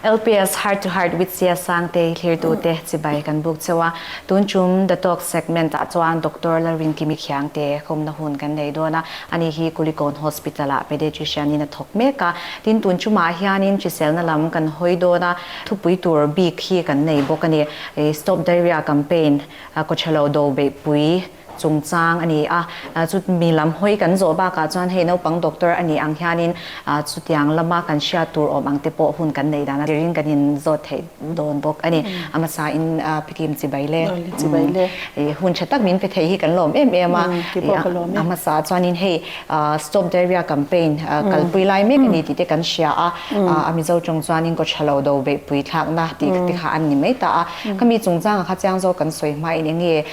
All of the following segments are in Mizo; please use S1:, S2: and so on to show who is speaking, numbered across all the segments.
S1: LPS Heart to Heart with Sia Sangte i thlir tute chibai kan buk cheu a, tun tum The Talk segment ah chuan Doctor Lalrin Kimikhiang te khawmna hun kan nei dawn a, a ni hi Kulikawn Hospital ah Paediatrician in a thawk mek a, tin tun tumah hianin hriselna lam kan hawi dawn a, thupui tur bik hi kan nei bawk a ni, Stop Diarrhoea Campaign, Kawthrelo Do Beihpui, chungchang a ni a, chu mi lam hawi kan zawh bakah chuan hei naupang doctor a nih ang hianin chutiang lama kan hriat tur awm ang te pawh hun kan neih dan a, tir in kan in zawt theih dawn bawk a ni. A hmasa in Phikim Chibaile i hun tha tak min pe thei hi kan lawm em em a, a hmasa chuanin hei Stop Diarrhea Campaign kalpui lai mek a ni tih te kan hria a, a Mizo tawng chuanin Kaw tha lo do beihpui thlakna tih te kha an ni mai ta a, khami chungchang a kha chiang zawk kan sawi hmain eng nge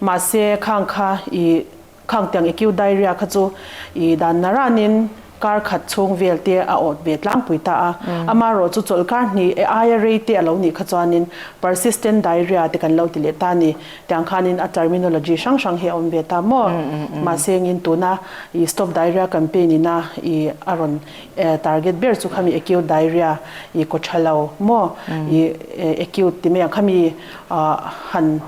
S1: Mahse khang kha i khang tiang i kiu diarrhea kha chu i dan na ran in kar khat chhung vel te a awt ve tlangpui ta a. Ama rawh chu chawlh kar hnih e aia rei te a lo nih kha chuan in persistent diarrhea te kan lo ti leh ta ni. Tiang khan in a terminology hrang hrang hi a awm ve ta maw? Mahse ngin tuna i stop diarrhea campaign ina i a rawn e target ber chu khami acute diarrhea i kaw tha lo maw? I acute ti mai ang khami ah han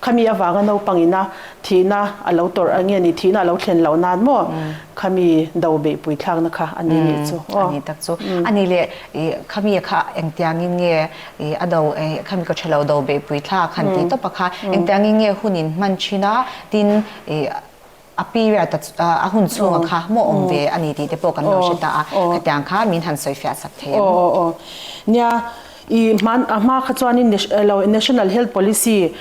S1: Khami avanga naupang ina thihna a lo tawrh a nge ni? Thihna a lo thlen loh nan maw? Khami do beihpui thlakna kha a ni leh chu aw. A ni tak chu. A ni leh, khami kha engtiangin nge a do, khami ka tha lo do beihpui thlak han ti tawp a kha engtiangin nge hun in hman thin a, tin A period a a hun chhunga kha hmuh awm ve a ni tih te pawh kan lo hre ta a, khatiang kha min han sawi fiah sak thei ang. Nia, i hman a hma kha chuanin National Health Policy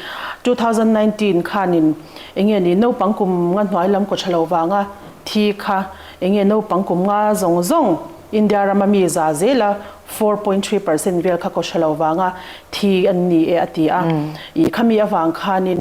S1: two thousand nineteen khanin eng nge ni naupang kum nga hnuai lam kaw tha lo vanga thi kha eng nge naupang kum nga zawng zawng India rama mi za zela four point three percent vel kha kaw tha lo vanga thi an ni e a ti a. I khami avang khanin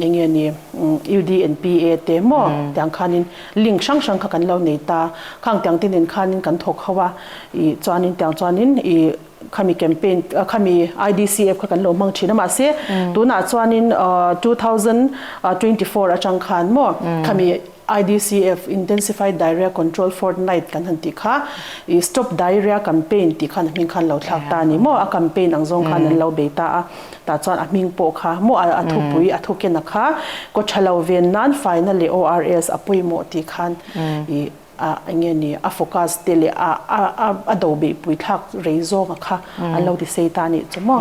S1: Eng nge ni? UDNPA te maw? Tiang khanin link hrang hrang kha kan lo nei ta. Khang tiang te nen khanin kan thawk ho a, i chuanin tiang chuanin i khami campaign khami IDCF kha kan lo hmang thin a mahse tunah chuanin two thousand twenty four atang khan maw khami IDCF, Intensified Diarrhoea Control Fortnight kan han tih kha, ih Stop Diarrhoea Campaign tih khan a hming khan lo thlak ta a ni maw? A campaign ang zawng khan an lo bei ta a, tah chuan a hming pawh kha maw a a thupui a thukena kha kaw tha lo ven nan faina leh ORS a pawimawh tih khan ih a enge ni a focus te leh a a a a do beihpui thlak rei zawnga kha an lo ti sei ta a nih chu maw?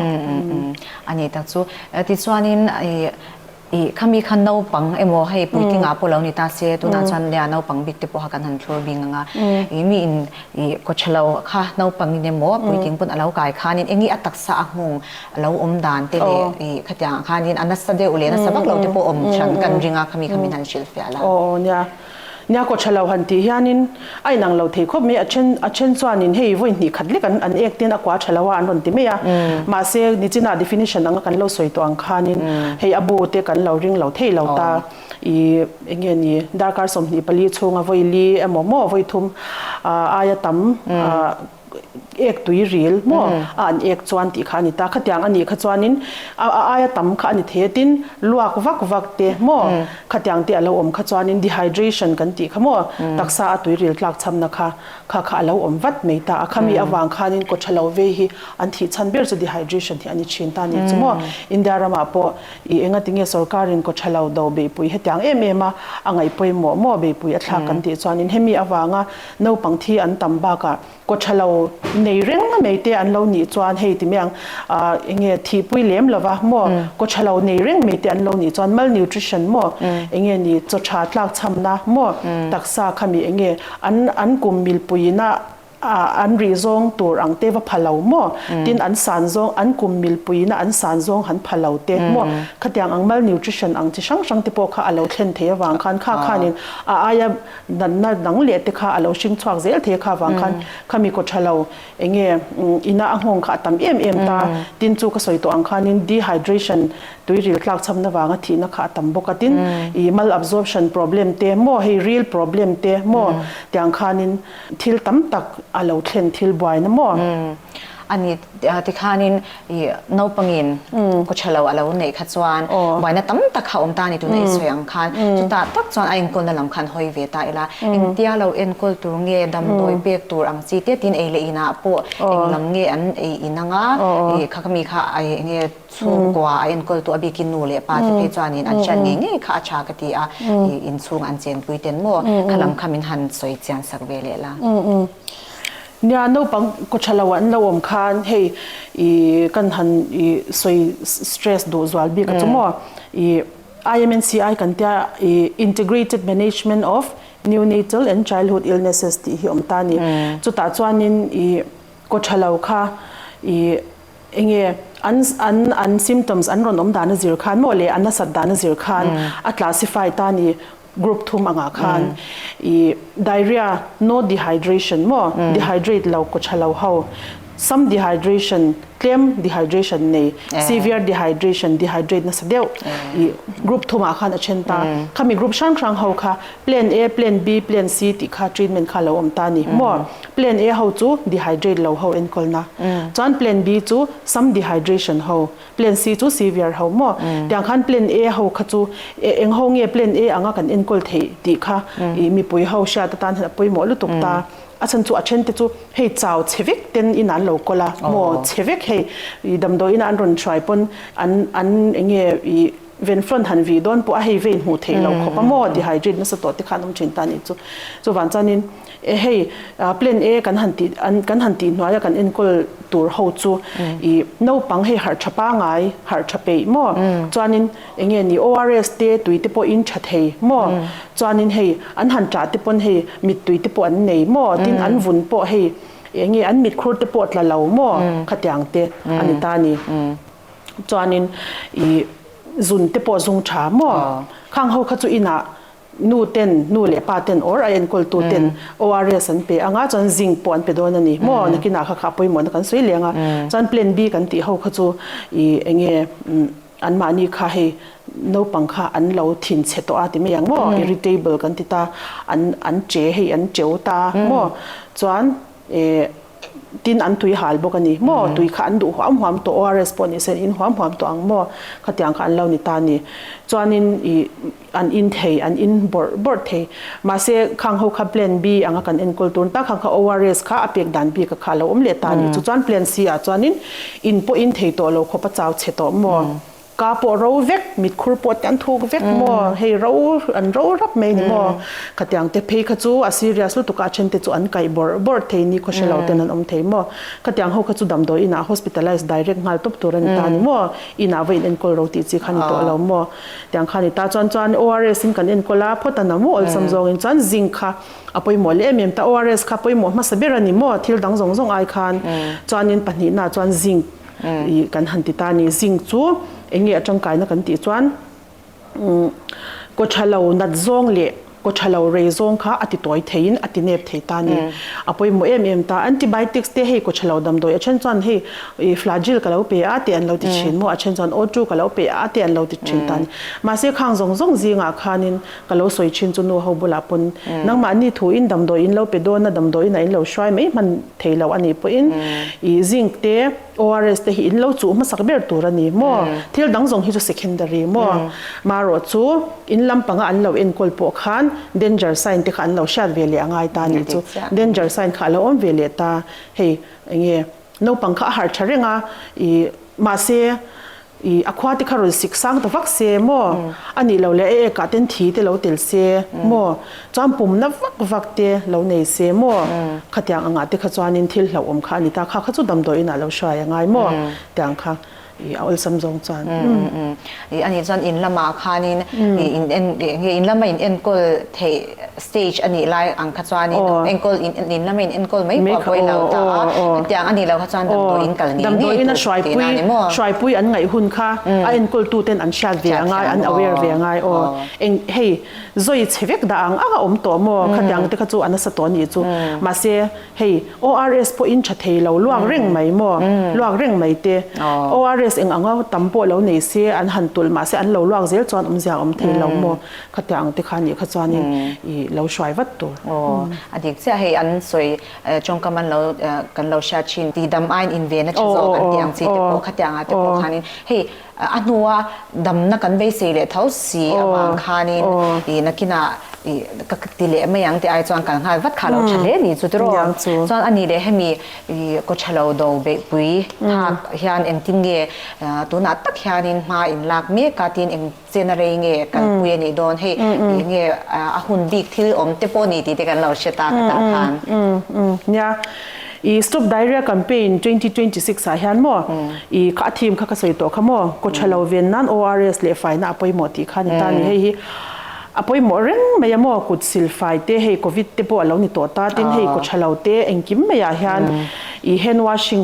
S1: Anih tak chu. Tichuanin ih. I, khami khan naupang emaw hei puitinga pawh lo ni ta se, tunah chuan lea naupang bik te pawh kha kan han thlur bik ngang a, i mi in i kawchhelo kha naupang in emaw puiting pawn a lo kai khanin eng nge a taksa a nghawng a lo awm dan te leh i khatiang ah khanin a nasa deuh leh nasa vak lo te pawh awm thian kan ring a khami kha min han hrilhfiah la. Nia kaw thalo han tih hianin a inang lo thei khawp mai, a then a then chuanin hei vawi hnih khat lek an an ek ten a kua thalo a an rawn ti mai a, mahse nichina definition anga kan lo sawi tawh ang khanin hei a bu te kan lo ring lo thei lo ta, i eng nge ni darkar sawmhnih pali chhunga vawi li emaw maw vawi thum aia tam a. ek tui ril maw a an ek chuan tih kha a ni ta, khatiang anih kha chuanin a aia tam kha a ni thei a tin luak vak vak te maw khatiang te a lo awm kha chuanin dehydration kan tih kha maw taksa a tui ril tlak chhamna kha kha kha a lo awm vat mai ta a kha mi avang khanin kaw tha lo vei hi an thih chhan ber chu dehydration hi a ni thin ta nih chu maw India ramah pawh i enga tinge sorkarin kaw tha lo do beihpui hetiang em em a a ngaihpawimawh maw beihpui a thlak kan tih chuanin hemi avanga Naupang thi an tam bakah kawtha lo nei reng mai te an lo nih chuan hei ti mai ang ahh eng nge thihpui lem lova maw kawtha lo nei reng mai te an lo nih chuan malnutrition maw eng nge ni chaw tha tlak chham na maw taksa khami eng nge an an kum milpui in a ahh an rih zawng tur ang te va pha lo maw tin an san zawng an kum milpui in a an san zawng han pha lo te maw khatiang ang malnutrition ang chi hrang hrang te pawh kha a lo thlen thei avang khan kha khan in a aia Natna dang leh te kha a lo hring chhuak zel thei a, kha vang khan kha mi kaw tha lo, eng nge ina a nghawng kha a tam em em ta, tin chu ka sawi tawh ang khanin dehydration tui ril tlak chhamna vanga thihna kha a tam bawk a, tin i malabsorption problem te maw hei ril problem te maw tiang khanin thil tam tak a lo thlen thil buaina maw. A ni tikhanin I naupangin ka tha lo a lo neih kha chuan buaina tam tak kha awm ta ni tuna i sawi ang khan chutah tak chuan a enkawlna lam khan hawi ve ta ila engtia lo enkawl tur nge damdawi pek tur ang chi te tin ei leh in ah pawh eng lam nge an ei in anga i kha ka mi kha i eng nge chhungkua a enkawl tu a bik i nu leh pa te phei chuan in an hriat ngei ngei kha a tha ka ti a i inchhung an chenpui ten maw kha lam kha min han sawi chian sak ve leh la. Nia, naupang kawtha lo an lo awm khan hei i kan han i sawi stress duh zual bik a chu maw i IMNCI kan tia i Integrated Management of Neonatal and Childhood Illnesses tih hi awm ta ni. Chutah chuanin i kawtha lo kha i eng nge an an an symptoms an rawn awm dan a zir khan maw leh a nasat dan a zir khan a classify ta ni. Group thum angah khan i diarrhea, no dehydration maw, dehydrate lo, kaw tha lo ho, some dehydration, tlem dehydration nei, severe dehydration, dehydrate nasa deuh, i group thum ah khan a then ta. Khami group hrang hrang ho kha Plan A, Plan B, Plan C tih kha treatment kha lo awm ta ni maw? Plan A ho chu dehydrate lo ho enkawlna, chuan Plan B chu some dehydration ho, Plan C chu Siviar ho maw? Tiang khan Plan A ho kha chu e eng ho nge Plan A anga kan enkawl theih tih kha ih mipui ho hriat atan hian a pawimawh lutuk ta. A chhan chu a then te chu hei chau chhe vek ten in an lo kawl a, maw chhe vek hei ih damdawiin an rawn hruai pawn an an eng nge ih, Venflon han vih dawn pawh a hei vei hmuh theih lo khawp a maw, dehydrate nasa tawhte khan awm thin ta a nih chu. Chuvang chuanin e hei plan e kan han tih kan han tih hnuaia kan enkawl tur ho chu i naupang hei harh tha pangai, harh tha peih maw chuanin eng nge ni ORS te tui te pawh in tha thei maw chuanin hei an han tah te pawn hei mittui te pawh an nei maw tin an vun pawh hei eng nge an mitkhur te pawh tla lo maw khatiang te a ni ta a ni. chuanin i zun te pawh zung tha maw? Khang ho kha chu inah nu ten, nu leh pa ten or a enkawltu ten ORS an pe anga chuan zinc pawh an pe dawn a ni maw? Nakinah kha kha pawimawhna kan sawi leng a. Chuan Plan B kan tih ho kha chu i eng nge anmahni kha hei naupang kha an lo thin chhe tawh a ti mai ang maw? Irritable kan ti ta, an an che hei an cheu ta maw? Chuan Eh. Tin an tui hal bawk a ni maw? Tui kha an duh huam huam tawh, ORS pawh ni se an in huam huam tawh ang maw? Khatiang kha an lo ni ta a ni. Chuanin i an in thei, an in bawrh bawrh thei. Mahse, khang ho kha Plan B anga kan enkawl tur ta, khang kha ORS kha a pek dan bik a kha a lo awm leh ta a ni. Chu chuan Plan C ah chuanin in pawh in thei tawh lo khawpa chau che tawh maw? Ka pawh ro vek, mitkhur pawh te an thuk vek maw, hei ro an ro rap mai ni maw khatiang te, phei kha chu a serious lutuk a, a then te chu an kaih bawrh bawrh thei ni khaw hre lo ten an awm thei maw, khatiang ho kha chu damdawi inah hospitalise direct nghal tawp tur a ni ta ni maw, inah vawiin enkawl ro tih chi kha a ni tawh lo maw, tiang kha a ni ta, chuan chuan ORS in kan enkawl a, phawt a na maw awlsam zawngin chuan zinc kha a pawimawh leh em em ta, ORS kha pawimawh hmasa ber a ni maw, thil dang zawng zawng ai khan chuanin pahnih nahah chuan zinc. i kan han ti ta ni. Zing chu eng nge a tangkaina kan tih chuan kawṭha lo nat zawng leh kawṭha lo rei zawng kha a ti tawi theiin a ti nep thei ta ni. A pawimawh em em ta. Antibiotics te hei kawṭha lo damdawi a ṭhen chuan hei Flagyl ka lo pe a tih an lo ti ṭhin maw a ṭhen chuan O two ka lo pe a tih an lo ti ṭhin ta ni. Mahse khang zawng zawng zingah khanin Ka lo sawi thin chu nu ho bulah pawn nangmah ni thuin damdawi in lo pe dawn a, damdawi in a in lo hruai mai hman thei loh a nih pawhin i zinc te ORS te hi in lo chuh hmasak ber tur a ni maw? Thil dang zawng hi chu secondary maw? Marawh chu in lam panga an lo enkawl pawh khan danger sign te kha an lo hriat ve leh a ngai ta a nih chu. Danger sign kha a lo awm ve leh ta. Hei enge naupang kha a harh tha reng a i mahse, I, a khua te kha rawn sik sang ta vak se maw? A nih loh leh a ek ah ten thi te lo tel se maw? Chuan pum na vak vak te lo nei se maw? Khatiang ang ah te kha chuan in thil hlauhawm kha a ni ta, kha kha chu damdawi in ah lo hrai ang ai maw? Tiang kha I, a awlsam zawng chuan. I, a nih chuan in lam ah khan in, I, in en, nge in lam a in enkawl theih Stage a nih lai ang kha chuanin enkawl in in lama in enkawl mai pawh a vawi lo ta a, hetiang a nih lo kha chuan damdawi in kal ngei ngei tur tihna a ni maw? Damdawi ina hruaipui an ngaih hun kha a enkawl tu ten an hriat ve a ngai, an aware ve a ngai aw, eng hei zawi chhe vek dah ang anga awm tawh maw khatiang te kha chu a nasa tawh a nih chu, mahse hei ORS pawh in tha thei lo luak reng mai maw, luak reng mai te ORS eng anga tam pawh lo nei se an han tulh mahse an lo luak zel chuan awmzia awm thei lo maw Khatiang ang te kha nih kha chuanin i lo hruai vat tur. Aw, a dik chiah hei, an sawi ṭawngkam an lo kan lo hriat ṭhin, dihdam aiin invena ṭha zawk kan tih ang chi te pawh khatiang ah te pawh khanin hei a hnua damna kan beisei leh tho si avang khanin i nakinah i ka ti leh mai ang tih ai chuan kan nghal vat kha lo ṭha hle ni chu te rawh. Chuan a nih leh hemi i kaw ṭha lo do beihpui hak hian engtin nge tunah tak hianin hma in lak mek a tin eng. Chen a rei nge kan pui a nih dawn hei ih nge a hun bik thil awm te pawh ni tih te kan lo hriat a ka tah khan. Nia ih stop diarrhea campaign twenty twenty six ah hian maw ih kha a theme kha ka sawi tawh kha maw kaw tha lo ven nan ORS leh faina a pawimawh tih kha a ni ta a ni hei hi a pawimawh reng mai a maw kut sil fai te hei covid te pawh a lo ni tawh ta tin hei kaw tha lo te engkim mai ah hian ih hand washing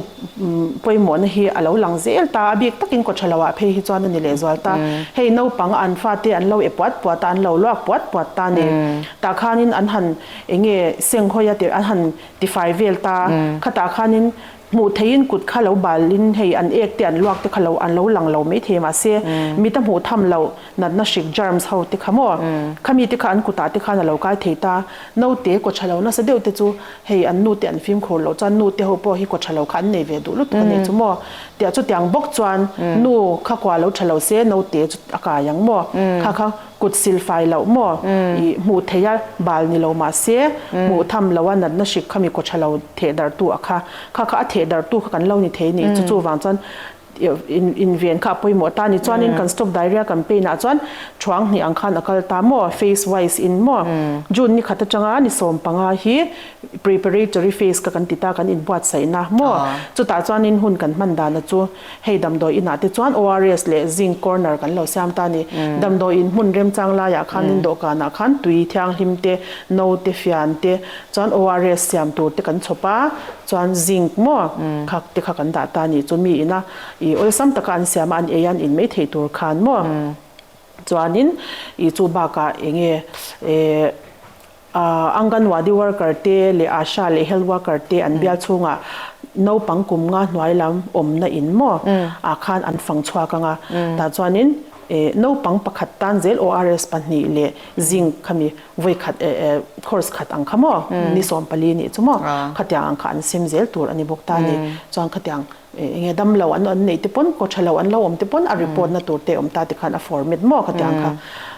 S1: pawimawhna hi a lo lang zel ta a, bik takin kawtthra lo ah phei hi chuan a ni leh zual ta. Hei naupang an fate an lo e puat puat a, an lo luak puat puat ta ni. Tah khanin an han eng nge senghawi a tirh, an han tifai vel ta. Khatah khanin hmuh theihin kut kha lo balin hei an ek te an luak te kha lo an lo lang lo mai thei mahse mit a hmuh tham loh. Natna hrik, germs, ho te kha maw? Khami te kha an kutah te khan a lo kai thei ta. Naute kaw tha lo nasa deuh te chu hei an nute an fimkhur loh chuan nute ho pawh hi kaw tha lo kha an nei ve duh lutuk a nih chu maw? Tih a chutiang bawk chuan nu kha kua lo tha lo se naute chu a kai ang maw? Kha kha kut sil fai loh maw? I hmuh theih a bal ni lo mah se hmuh tham lo a natna hrik khami kaw tha lo theh darh tu a kha. Kha kha a theh darh tu kha kan lo ni thei nih chu chuvang chuan Inven kha a pawimawh ta a ni chuanin kan Stop Diarrhea campaign ah chuan thuang hnih ang khan a kal ta maw, phase wise in maw? June ni khat atanga ni sawm panga hi preparatory phase ka kan ti ta kan inbuatsaih na maw? Chutah chuanin hun kan hman dan a chu hei damdawi inah te chuan ORS leh Zinc corner kan lo siam ta a ni. Damdawi in hmun remchang laiah khanin dawhkanah khan tui thianghlim te, no te, fian te, Chuan ORS siam tur te kan chhawp a, chuan Zinc maw kha te kha kan dah ta ni chu mi ina i awlsam taka an siam a, an ei a an in mai thei tur khan maw. Chuanin i chu bakah eng nge eh Anganwadi worker te leh Asha leh Health worker te an bial chhunga naupang kum nga hnuai lam awmna in maw ah khan an fang chhuak ang a, tah chuanin eh naupang pakhat tan zel ORS pahnih leh Zinc kha mi. Vawi khat e e, course khat ang kha maw, ni sawm pali nih chu maw, khatiang ang kha an sim zel tur a ni bawk ta ni. Chuan khatiang enge damlo an an neih te pawn, kaw tha lo an lo awm te pawn a report na tur te a awm ta tikhan a fawr met maw khatiang kha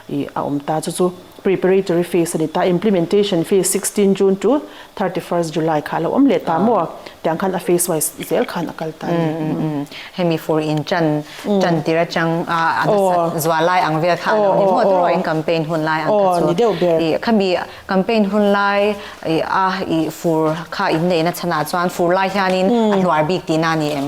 S1: ih a awm ta. Chu chu preparatory phase a ni ta, implementation phase sixteen June to Thirty first July kha a lo awm leh ta maw tiang khan a face wise zel khan a kal ta a ni. Hemi fur in tan tan tir atang a a nasat zual lai ang vel kha a lo ni maw turaw in campaign hun lai ang kha chu i khami campaign hun lai i a i fur kha in neih na chhan ah chuan fur lai hian in a hluar bik ti na a ni em?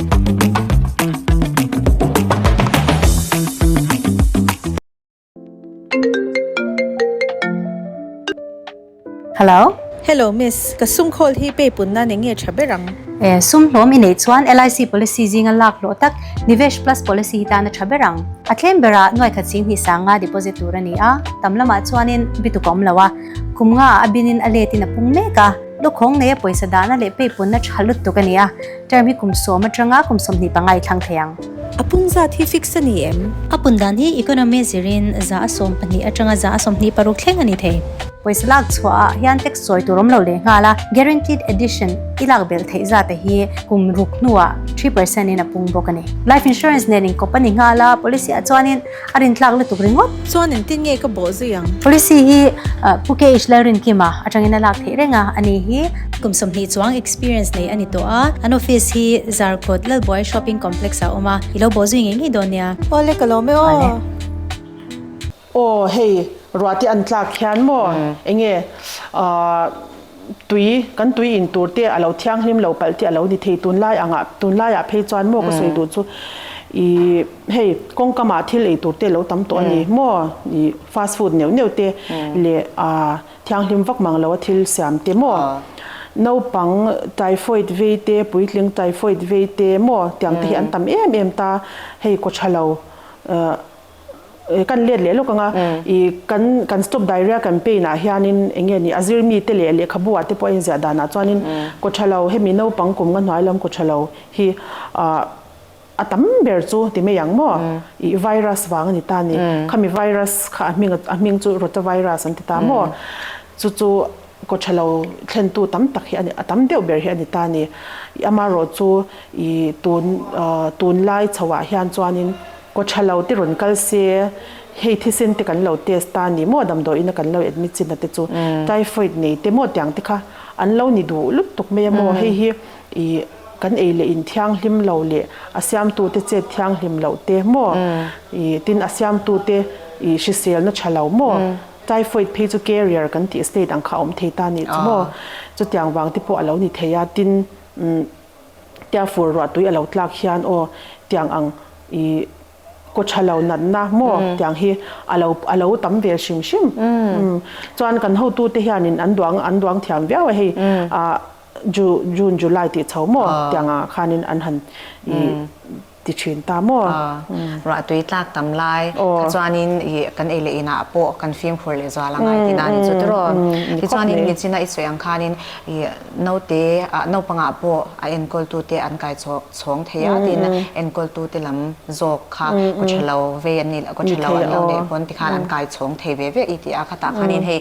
S1: Hello. Hello miss, ka sum call hi pay pun nan enge tha ber ang? Eh, sum hlawm i nei chuan LIC policy zinga lak hlawh tak Nivesh Plus policy hi tana tha ber ang. A tlem bera nuaikhat ching hnih sanga deposit tur a ni a, tam lamah chuanin bituk a awm lo a. Kum nga a binin a letin a pung mek a, lukhawng neia pawisa dahna leh pay punna tha lutuk a ni a. Term hi kum sawm atanga kum sawmhnih panga i thlang thei ang. A pun zat hi fix a ni em? A pun dan hi economy zirin za a sawm pahnih atanga za a sawmhnih paruk thleng a ni thei. Pawisa lak chhuah ah hian tax sawi tur awm lo leh nghal a, guaranteed addition i lak belh theih zat a hi kum ruk hnuah three percent in a pung bawk a ni. Life insurance nen in kawp a ni nghal a, policy ah chuan in. A rin tlak lutuk ringawt. Chuan in tin nge ka bawh zui ang. Policy hi Pu KH Lalrinkim a atangin a lak theih reng a, a nih hi. Kum sawmhnih chuang experience nei a ni tawh a. An office hi Zarkut Lalbuai Shopping Complex ah a awm a. I lo bawh zui ngei ngei dawn nia. Aw le ka lawm e aw. Aw hei, ruati an tlak hian maw enge? Ahh. tui, kan tui in tur te a lo thianghlim lo palh tih a lo ni thei. Tunlai anga, tunlai ah phei chuan maw ka sawi duh chu i hei kawngkam ah thil ei tur te lo tam tawh a ni maw i fast food neuh neuh te leh a thianghlim vak mang lo a thil siam te maw naupang typhoid vei te puitling typhoid vei te maw tiang te hi an tam em em ta hei kawtha lo. kan let leh lawk anga i kan kan stop diarrhea campaign ah hianin eng nge ni a zir mi te leh lehkhabu ah te pawh a inziah dan ah chuanin Kawhthalo hemi naupang kum nga hnuai lam Kawhthalo hi ah a tam ber chu ti mai ang maw ih virus vang a ni ta ni khami virus kha a hming a hming chu rota virus an ti ta maw chu chu Kawhthalo thlen tu tam tak hi a tam deuh ber hi a ni ta ni ih amaherawhchu ih tun ah tunlai chhoh ah hian chuanin. Kaw tha lo te rawn kal se, hei thisen te kan lo test ta ni maw damdawi ina kan lo admit chin na te chu typhoid nei te maw tiang te kha an lo ni duh lutuk mai a maw hei hi i kan ei leh in thianghlim lo leh a siam tu te chet thianghlim lo te maw i tin a siam tu te i hrisel na tha lo maw typhoid phei chu carrier kan tih state ang kha awm thei ta ni chu maw chutiang vang te pawh a lo ni thei a tin umm Tia fur ruah tui a lo tlak hian aw tiang ang i kaw tha lo natna maw tiang hi a lo a lo tam ve hrim hrim umm chuan kan hotu te hian in an duang an duang thiam viau a hei ah Ju June July tih chho maw tiang ah khan in an han i ti thin ta maw? Aw, ruah tui tlak tam lai. Kha chuanin i kan ei leh inah pawh kan fim khur leh zual a ngai tih na nih chu ti raw? Ti chuanin Mitchina i sawi ang khanin i naute, naupanga pawh a enkawltute an kai chhawng thei a tiin enkawltute lam zawk kha ka tha lo ve an nih, ka tha lo an lo neih pawn tikhan an kai chhawng thei ve viau i ti a. Khatah khanin hei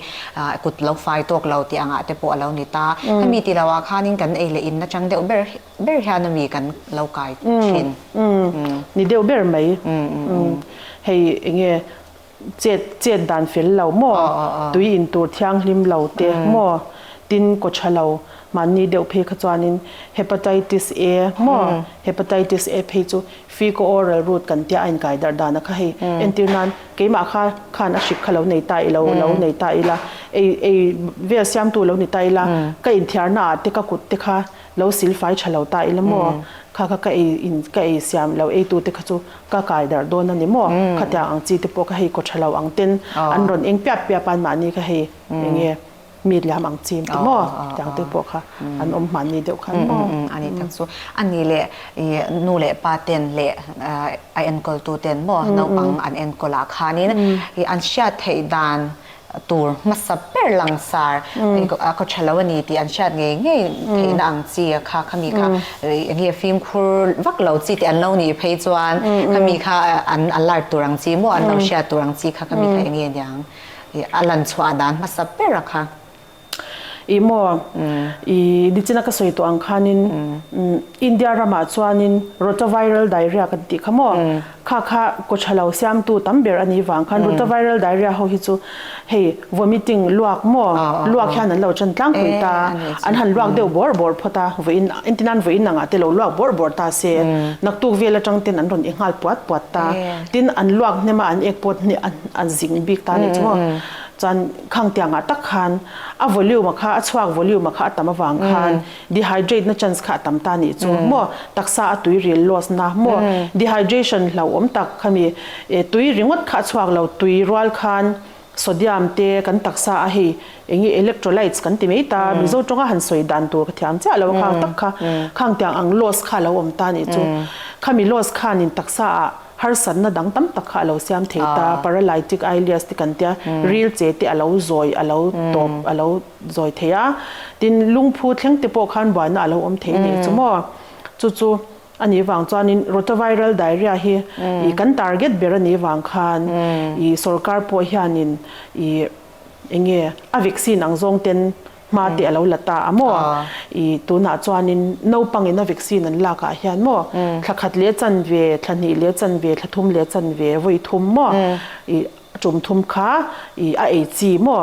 S1: kut lo fai tawk lo tih angah te pawh a lo ni ta. Hemi ti lohah khanin kan ei leh in atang deuh ber Ber hian a mi kan lo kai thin. Ni deuh ber mai. Hei enge chet chet dan fel lo maw, tui in tur thianghlim lo te maw, tin kaw tha lo mahni deuh phei kha chuanin Hepatitis A maw, Hepatitis A phei chu fecal oral route kan tia a inkai darh dan a kha hei entir nan keimah kha khan a hrik kha lo nei ta ilo lo nei ta ila ei ei vel siamtu lo ni ta ila ka inthiarna ah te ka kut te kha Lo silfai tha lo ta ila maw? Kha kha ka ei in ka ei siam lo eitute kha chu ka kai darh dawn a ni maw? Khatiang ang chi te pawh kha hei kaw tha lo ang ten an rawn eng piap piap a an mahni kha hei eng nge mi liam ang chi ang ti maw? Tiang te pawh kha an awm hman ni deuh kha an maw? A ni tak chu a ni le i nu leh pa ten leh a enkawltu ten maw naupang an enkawl ah khanin i an hriat theih dan tur hmasa ber langsar a ka tha lo a ni tih an hriat ngei ngei theihna ang chi a kha kha mi kha eng nge fimkhur vak lo chi tih an lo nih phei chuan kha mi kha an alert tur ang chi maw an lo hriat tur ang chi kha kha mi kha eng nge niang a lan chhuah a dan hmasa ber a kha. I maw, i nichina ka sawi tawh ang khanin India ramah chuanin Rotaviral Diarrhea kan tih kha maw, kha kha kawtha lo siamtu tam ber a nih vang khan Rotaviral Diarrhea ho hi chu hei vomiting luak maw, luak hian an lo tan tlang pui ta, an han luak deuh bawr bawr phawt a, vawiin engtin an vawiin angah te lo luak bawr bawr ta se, naktuk vel atang ten an rawn i nghal puat puat ta, tin an luak hnem a an ek pawt hi a zing bik ta a nih chu maw, chuan Khang tiang ah tak khan a volume a kha a chhuak volume a kha a tam avang khan dehydrate na chance kha a tam ta nih chu maw taksa a tui ril loss na maw dehydration hlauhawm tak khami eh tui ringawt kha a chhuak lo tui rual khan sodium te kan taksa a hei eng nge electrolytes kan ti mai ta mizo tawng a han sawi dan tur ka thiam chiah lo a khang tak kha khang tiang ang loss kha a lo awm ta nih chu khami loss khan in taksa ah Harsatna dang tam tak kha a lo siam thei ta, paralytic ileus te kan tia, ril che te a lo zawi, a lo tawp, a lo zawi thei a. Tin, lungphu thleng te pawh khan buaina a lo awm thei nei chu maw? Chu chu a nih vang chuanin rotaviral diarrhea hi ih kan target ber a nih vang khan ih sorkar pawh hianin ih eng nge a vaccine ang zawng ten Hma te a lo la ta a maw? I tunah chuanin naupangina vaccine an lakah hian maw thla khat leh chan ve, thla hnih leh chan ve, thla thum leh chan ve, vawi thum maw i a tum thum kha i a ei chi maw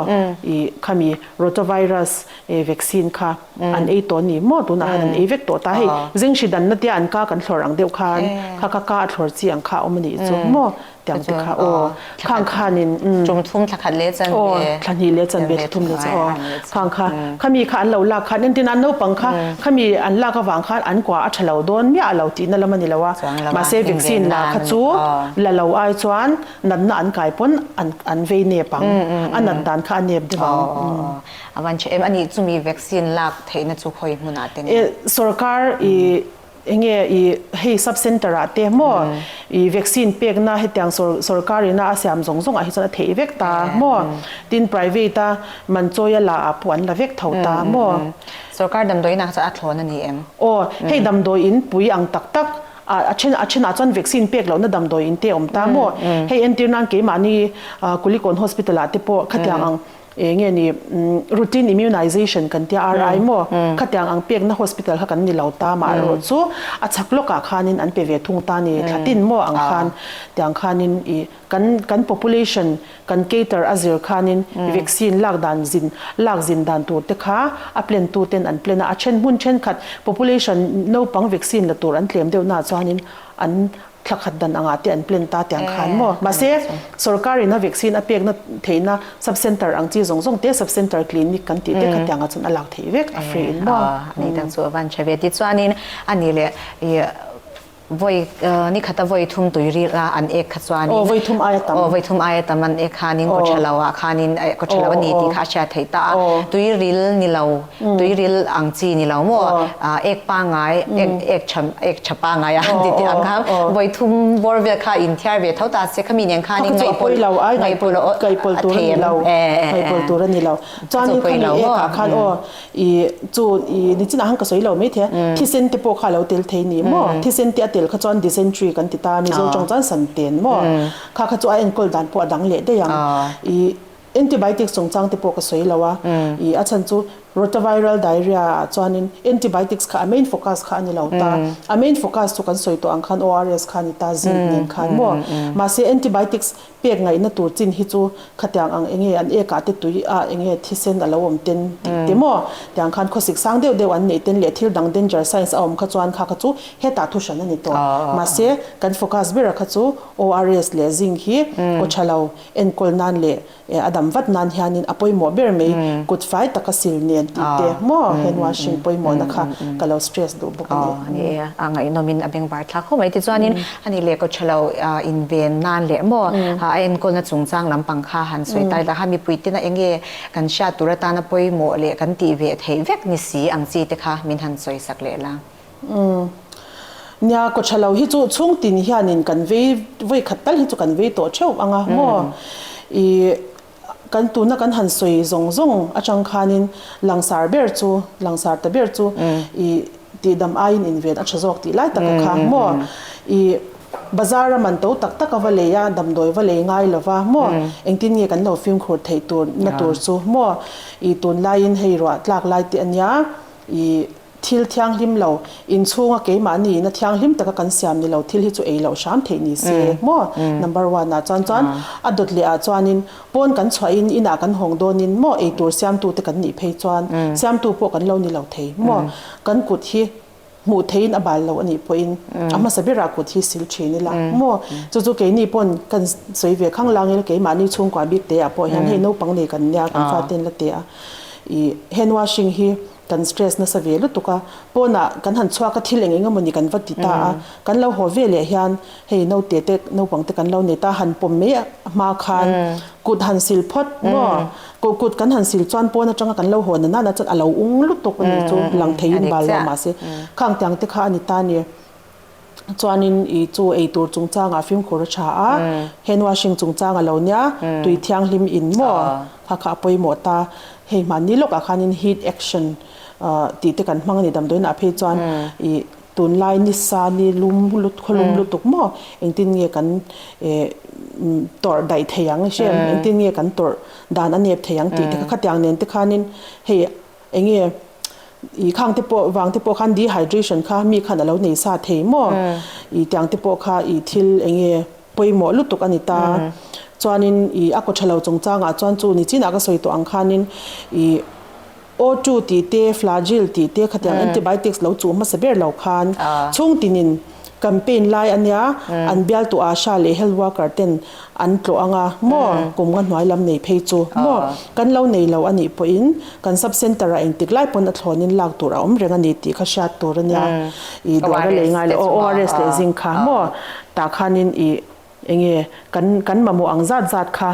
S1: i khami rotavirus e vaccine kha an ei tawh ni maw tunah khan an ei vek tawh ta hei zenghrih danna tia an ka kan thlawrh ang deuh khan kha ka ka a thlawrh chi ang kha a awm a nih chu maw. Tiang te kha aw, khang khan in umm. Tum thum thla khat leh chan ve. Aw, thla hnih leh chan ve, thla thum leh chan aw. Khang kha, khami kha an lo lak khan, entinah naupang kha khami an lak avang khan an kua a tha lo dawn miah a lo tihna lam a ni lo a. Mahse vaccine la kha chu la lo ai chuan natna an kai pawn an an vei nep ang. A nat dan kha a nep deuh ang. Aw aw aw. A van tha em. Ani chumi vaccine lak theihna chu khawi hmunah te nen. Sorkar i. Enge i hei sub center ah te maw i vaccine pekna hetiang sawrkar in a a siam zawng zawng ah hi chuan a theih vek ta maw tin private a man chawi a la ah pawh an la vek tho ta maw. Sawrkar damdawi in ah chuan a thlawn a ni em? Aw hei damdawi in pui ang tak tak ah a then a then ah chuan vaccine pek lohna damdawi in te awm ta maw hei entir nan keimah ni kulikawn hospital ah te pawh khatiang ang Eng nge ni, routine immunization kan tia RI maw? Khatiang ang pekna hospital kha kan ni lo ta mah erawh chu a chhak lawkah khanin an pe ve thung ta ni, thla tin maw ang khan tiang khanin i kan kan population kan cater a zir khanin vaccine lak dan zin lak zin dan tur te kha a plan tu ten an plan a, a then hmun thenkhat population naupang vaccine la tur an tlem deuhnaah chuanin an thla khat dan angah te an plan ta tiang khan maw. Mahse, sorkar ina vaccine a pekna theihna subcentre ang chi zawng zawng te subcentre clinic kan tih te kha tiangah chuan a lak thei vek a free in maw. Aw, a nei tak chu a van ṭha ve. Tichuanin a nih leh, i vawi, ni khata vawi thum tuiril a an ek kha chuanin. Aw, vawi thum aia tam. Aw, vawi thum aia tam an ek khanin kaw ṭha lo ah khanin, ka ṭha lo a ni tih kha a hriat theih ta a. Tuiril ni lo. Tuiril ang chi ni lo maw? Ek pangai, ek ek tha pangai a ti tih ang kha. Vawi thum bawr vel kha in thiar ve tho ta se khami nen khan in ngaihpawlh a thei em? Ngaihpawlh tur a ni lo. Chuan in khami ekah khan aw i chu i nichinah khan ka sawi lo maithei a, thisen te pawh kha a lo tel thei ni maw? Thisen te a tel kha chuan dysentery kan ti ta, Mizo tawng chuan santen maw? Kha kha chu a enkawl dan pawh a dang leh daih ang. Antibiotic chungchang te pawh ka sawi lo a, ih a chhan chu Rotaviral Diarrhea ah chuanin Antibiotics kha a main focus kha a ni lo ta, a main focus chu kan sawi tawh ang khan ORS kha a ni ta, Zinc nen khan maw. Mahse Antibiotics pek ngaihna tur chin hi chu khatiang ang enge an ek ah te tui a enge thisen a lo awm ten tih te maw tiang khan khawsik sang deuh deuh an neih ten leh thil dang danger signs a awm kha chuan kha kha chu hetah thu hran a ni tawh. Mahse kan focus ber a kha chu ORS leh Zinc hi aw tha lo. Enkawl nan leh a dam vat nan hianin a pawimawh ber mai, kut fai taka sil nen tih te maw hen wang hring pawimawhna kha ka lo stress duh bawk a ni. A ngaihnawmin a bengvar thlak khawp mai tichuanin a nih leh ka tha lo inven nan leh maw a enkawlna chungchang lampang kha han sawi tai ta kha mipui ten a enge kan hriat tur atana pawimawh leh kan tih ve theih vek ni si ang chi te kha min han sawisak leh la. Umm. Nia Kawchhalo hi chu chhungtin hianin kan vei vawikhat tal hi chu kan vei tawh theuh ang a maw i kan tuna kan han sawi zawng zawng atang khanin langsar ber chu langsar ta ber chu i tihdam aiin inven a tha zawk tih lai tak a kha maw i bazar a man to tak tak a va lei a damdawi va lei ngai lova maw engtin nge kan lo fimkhur theih tur na tur chu maw i tunlaiin hei ruah tlak lai te a nia i Thil thianghlim lo, inchhunga keimahni ina thianghlim taka kan siam ni lo, thil hi chu ei loh hram theih ni se maw? Number one ah chuan chuan a dawt leh ah chuanin pawn kan chhuah in inah kan hawng dawn in maw ei tur siamtu te kan nih phei chuan siamtu pawh kan lo ni lo thei maw? Kan kut hi hmuh theih in a bal lo anih pawh in a hmasa ber ah kut hi sil thin ila maw? Chu chu keini pawn kan sawi ve khang lang in keimahni chhungkua bik te ah pawh hian hei naupang nei kan nia kan fate in la tia ih hand washing hi Kan stress nasa ve lutuk a, pawnah kan han chhuak a, thil eng eng emawni kan va ti ta a, kan lo haw veleh hian hei naute te, naupang te kan lo nei ta, han pawm mai a hma khan kut han sil phawt maw, kut kut kan han sil chuan pawn atanga kan lo haw na nana chuan a lo ung lutuk a ni chu, lang thei in bal lo mahse khang tiang te kha a ni ta a ni. chuanin i chu ei tur chungchangah fimkhur a tha a, hand washing chungchang a lo nia, tui thianghlim in maw kha kha a pawimawh ta. Hei hman ni lawkah khanin heat action tih te kan hmang a ni damdawiinah phei chuan i tunlai nisa ni lum lut khawlum lutuk maw engtin nge kan tawrh daih theih ang hriat, engtin nge kan tawrh dan a nep theih ang tih te kha khatiang nen te khanin hei Eng nge i khang te pawh vang te pawh khan dehydration kha mi khan a lo nei sa thei maw i tiang te pawh kha i thil eng nge pawimawh lutuk a ni ta. Chuanin i a kawtha lo chung changah chuan chu ni chinah ka sawi tawh ang khanin i O two tih te Flagyl tih te khatiang antibiotics lo chuh hmasa ber lo khan chhungtinin, Campaign lai a nia, an bialtu Asha leh health worker ten an tlawh anga maw kum nga hnuai lam nei phei chu maw kan lo nei lo a nih pawhin kan sub center ah engtik lai pawn a thlawn in lak tur a awm reng a ni tih kha hriat tur a nia i dawra lei ngai leh aw ORS leh zing kha maw tah khan in i Eng nge kan kan mamawh ang zat zat kha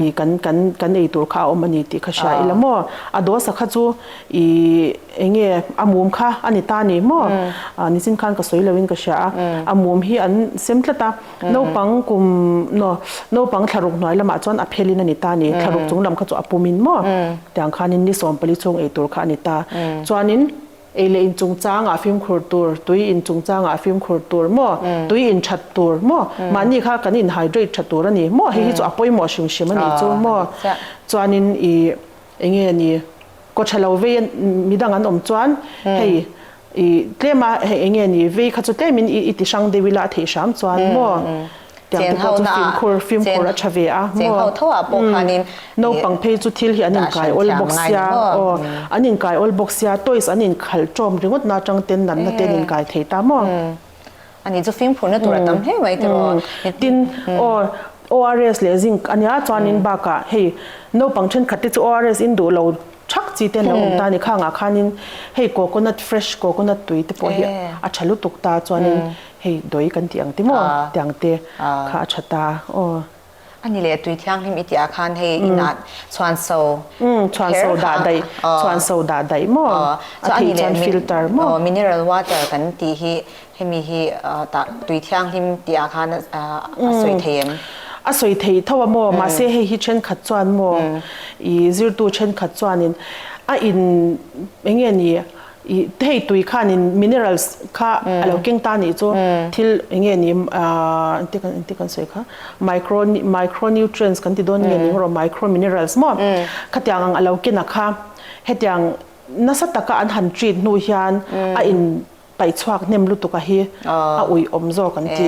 S1: i kan kan kan ei tur kha a awm a ni tih kha hria i la maw? A dawsa kha chu i eng nge a mum kha a ni ta ni maw? Nichin khan ka sawi loin ka hria a, a mum hi an sem tlat a, naupang kum no naupang thlaruk hnuai lamah chuan a phelin a ni ta ni, thlaruk chunglam kha chu a pumin maw? Tiang khanin ni sawmpali chhung ei tur kha a ni ta. Chuanin. Ei leh in chungchangah fimkhur tur, tui in chungchangah fimkhur tur maw, tui in that tur maw, mahni kha kan in hydrate tha tur a ni maw, hei hi chu a pawimawh hrim hrim a nih chu maw. Chuanin i eng nge a ni, kaw tha lo vei mi dang an awm chuan hei i tlema hei eng nge a ni, vei kha chu tlem in i ti hrang deuh ila a theih hram chuan maw. Tiang te pawh chu fimkhur fimkhur a tha ve a, maw? Umm. Naupang phei chu thil hi an inkai awl bawk sia. Aw, an inkai awl bawk sia. Toys an inkhalh tawm ringawtna atang ten natna te an inkai thei ta maw? Umm. Umm. Tin, aw, ORS leh Zinc a nia chuan in bakah hei naupang thenkhat te chu ORS in duh lo chak chi te an lo awm ta a ni. Khangah khanin hei coconut, fresh coconut tui te pawh hi a tha lutuk ta chuan in. Hei dawi kan tih ang te maw? tih ang te kha a tha ta. Aw. A ni le, tui thianghlim i tih ah khan hei in ah chhuan so kher kha a ni. Aw. Chhuan so dah daih maw? A thei chuan filter maw? Aw, mineral water kan tih hi hemi hi tah tui thianghlim tih ah khan a sawi thei em? A sawi thei tho a maw? Mahse hei hi thenkhat chuan maw i zirtu thenkhat chuan in a in eng nge ni? Hei tui khanin minerals kha a lo keng ta nih chu thil nge ni engti kan engti kan sawi kha micro micro nutrients kan ti dawn nge ning rawh micro minerals maw khatiang ang a lo ken a kha hetiang nasa taka an han treat hnu hian a in paih chhuak hnem lutuk a hi a ui awm zawk an ti.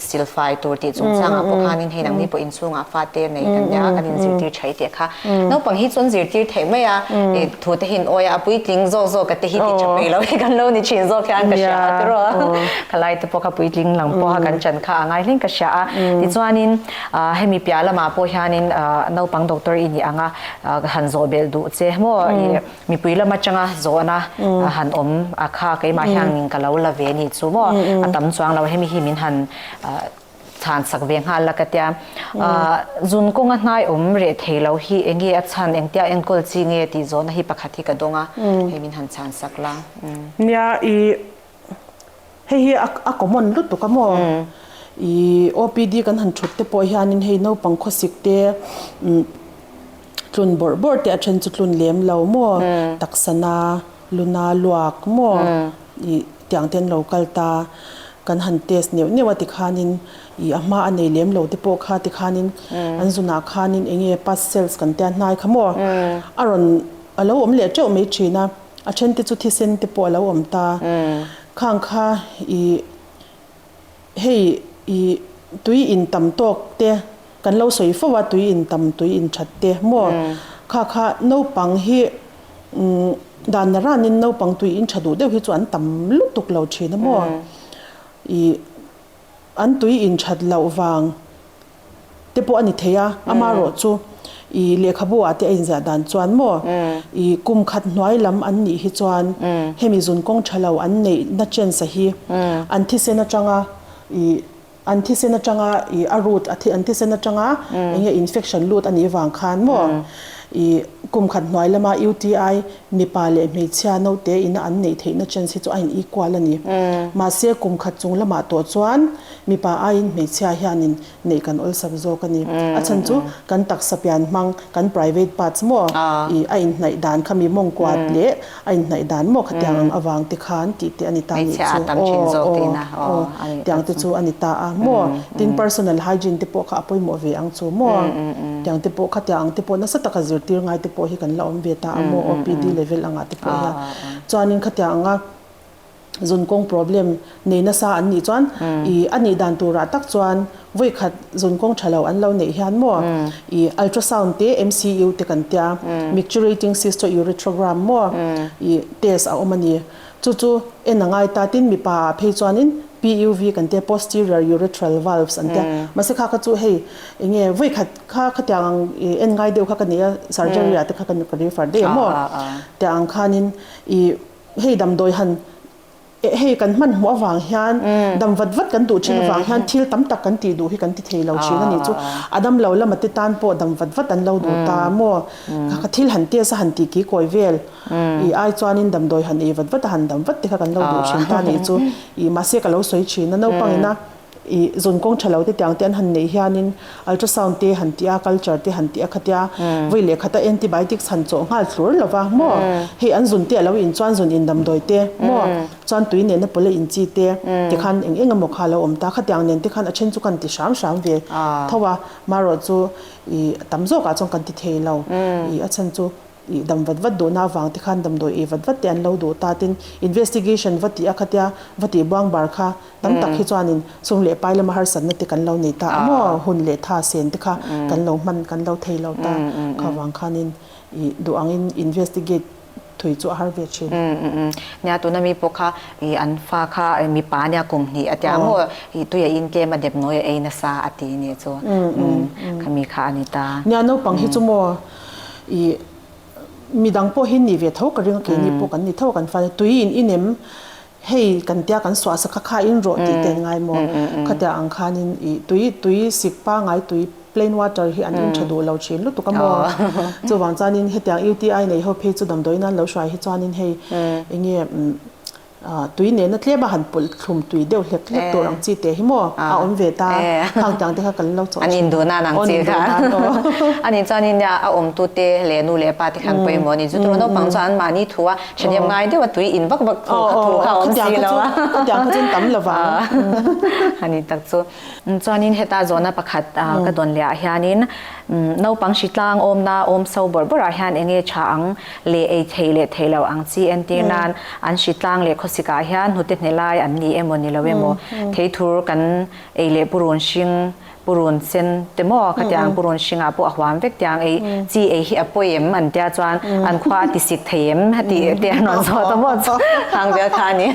S1: silfai tur tih chung changah pawh khanin hei dangmi pawh inchhungah fate nei kan nia kan inzirtir thai teh kha. Naupang hi chuan zirtir theih mai a, i thute hi in awia a puitling zawk zawk a te hi ti tha phei lo hi kan lo ni thin zawk hian ka hria a tiraw kha lai te pawh kha puitling lang pawh kha kan chan kha a ngai hleng ka hria a tichuanin hemi piah lamah pawh hianin naupang doctor i nih ang a han zawhbelh duh che maw i. Mipui lam atanga zawhna a han awm a kha keimah hian min ka lo la ve ni chu maw, a tam chuang lo, hemi hi min han chhansak ve nghal la ka tia. Zun kawnga hnaiawm reh thei lo hi eng nge a chhan, engtia enkawl chi nge tih zawhna hi pakhat hi ka dawng a, hei min han chhansak la. Nia i. hei hi a common lutuk a maw? I OPD kan han thut te pawh hian in hei naupang khawsik te tlun bawrh bawrh te a then chu tlun lem lo maw? Taksana, luna luak maw? I tiang te an lo kal ta. Kan han test neuh neuh a ti khan in i a hma a nei lem lo te pawh kha ti khan in an zun ah khan in eng nge pass cells kan tia hnai kha maw? A rawn a lo awm leh teuh mai thin a. a then te chu thisen te pawh a lo awm ta. Khang kha i hei i tui in tam tawk te kan lo sawi fo a, tui in tam tui in that te maw? Khang kha naupang hi danna ran in naupang tui in tha duh deuh hi chu an tam lutuk lo thin a maw? I. An tui in that loh vang te pawh a ni thei a, ama rawh chu i lehkhabu ah te a in ziah dan chuan maw i kum khat hnuai lam an nih hi chuan hemi zun kawng tha lo an neih na chance hi an thisen atang a i an thisen atang a i a root a an thisen atang a eng nge infection lut a nih vang khan maw i kum khat hnuai lam a UTI Mipa leh hmeichhia naute ina an neih theihna chance hi chu a in equal a ni. Mahse, kum khat chung lamah tawh chuan mipa aiin hmeichhia hianin neih kan awlsak zawk a ni. A chhan chu kan taksa pian hmang, kan private parts maw ih, a inhnaih dan kha mi mawngkuat leh a inhnaih dan maw kha tiang ang avangte khan tihte a ni ta nih chu. Aw, aw, aw, tiangte chu a ni ta a. Maw? Tin, personal hygiene te pawh kha a pawimawh ve ang chu maw? Tiang te pawh khatiang ang te pawh nasa taka zirtir ngai te pawh hi kan la awm ve ta a maw? OPD level angah te pawh hian. Chuanin khatiang anga zun kawng problem nei nasa an nih chuan i a nih dan turah tak chuan vawi khat zun kawng tha lo an lo neih hian maw i ultrasound te MCU te kan tia, micturating cystourethrogram maw i test a awm a ni. Chu chu en a ngai ta tin mipa ah phei chuanin PUV kan tia posterior urethral valves an tia. Mahse kha kha chu hei enge vawi khat kha khatiang ang i en ngai deuh kha ka nei a, surgery ah te kha ka ri far daih a maw tia ang khanin i hei damdawi han hei kan hman hmuh avang hian dam vat vat kan duh thin avang hian thil tam tak kan tih duh hi kan ti thei lo thin a ni chu a dam lo lamah te tan pawh dam vat vat an lo duh ta a maw kha kha thil han test a han ti kikawi vel. Ih ai chuanin damdawi han ei vat vat a, han dam vat te kha kan lo duh thin ta nih chu ih mahse ka lo sawi thin a, naupang in a ih zawn kawng tha lote tiang te an han neih hianin ultrasound te han tih a, culture te han tih a khatia, vawi leh khata antibiotics han chawh nghal thlur lo va maw, hei an zun te a lo in chuan zun in damdawi te maw, chuan tui nehna pawleh in chi te te khan eng eng emaw kha a lo awm ta, khatiang nen te khan a then chu khan ti hram hram ve tho a, marawh chu ih a tam zawk ah chuan kan ti thei lo, ih a chhan chu. ih dam vat vat duhna avang te khan damdawi ih vat vat te an lo duh ta tin investigation va tih a kha tia va tih buangbar kha tam tak hi chuan in sum leh pai lama harsatna te kan lo nei ta a maw hun leh tha sen te kha kan lo hman kan lo thei lo ta kha vang khan in ih duh ang in investigate thui chu a har ve thin. Nia tuna mi pawh kha ih an fa kha ih mipa nia kum hnih a tia a maw ih tui a in tlem a dep nawi a ei nasa a ti a nia chu khami kha a ni ta. Nia naupang hi chu maw. I midang pawh hi ni ve tho ka ring a keini pawh kan ni tho a kan fate tui in in em hei kan tia kan suah sa kha kha in rawh tih te an ngai maw khatiang ang khan in i tui tui sik pangai tui plain water hi an in tha duh lo thin lutuk a maw chuvang chuan in hetiang UTI nei ho phei chu damdawi nan lo hruai hi chuan in hei enge tui nena tlem a han pulh thlum tui deuh hlek hlek tur ang chi teh hi maw a awm ve ta khang tiang te kha kan lo chawh a thin a aw nin duh nan ang chi kha a nih chuan nia a awm tu te leh nu leh pa te khan pawimawh ni chu tuna naupang chuan an mahni thu a thahnem ngai deuh a tui in vak vak thu kha awm si lo a khatiang kha chu an tam lo vang a ni tak chu. Chuanin heta zawhna pakhat ka dawn lehah hianin naupang hri tlang awmna awm so bawrh bawrh ah hian enge tha ang leh ei thei leh thei lo ang chi entir nan an hri tlang leh khawsik ah hian hnute hnelai an ni emaw ni lo emaw thei thur kan ei leh purun hring purun sen te maw khatiang ang purun hring ah pawh a huam vek tiang ei chi ei hi a pawi em an tia chuan an khua a ti sik thei em tih te an rawn zawh ta maw chu khang vel kha a ni.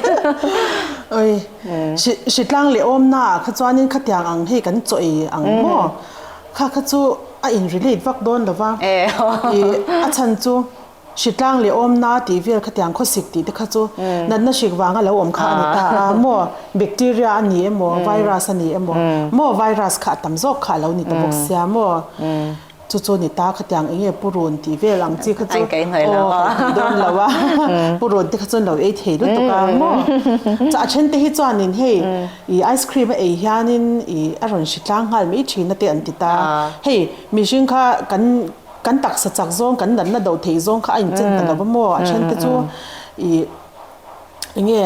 S1: Hritlang leh awmna ah kha chuanin khatiang ang hei kan chawi ang maw? Kha kha chu a in relate vak dawn lo va. I a chhan chu hritlang leh awmna tih vel khatiang khawsik tih te kha chu natna hrik vang a lo awm kha a ni ta a, maw bacteria a ni emaw virus a ni emaw, maw virus kha a tam zawk kha a lo ni ta bawk sia maw. Chu chu ni ta, khatiang eng nge purun tih vel ang chi kha chu, aw kaih thei dawn lo a, purun te kha chuan lo ei thei lutuk a maw. Chuan a then te hi chuanin hei i ice cream a ei hianin i a rawn hri tlang nghal mai thin a te an ti ta. Hei mihring kha kan kan taksa chak zawng kan natna do thei zawng kha a inchen ta lo va maw a then te chu i enge.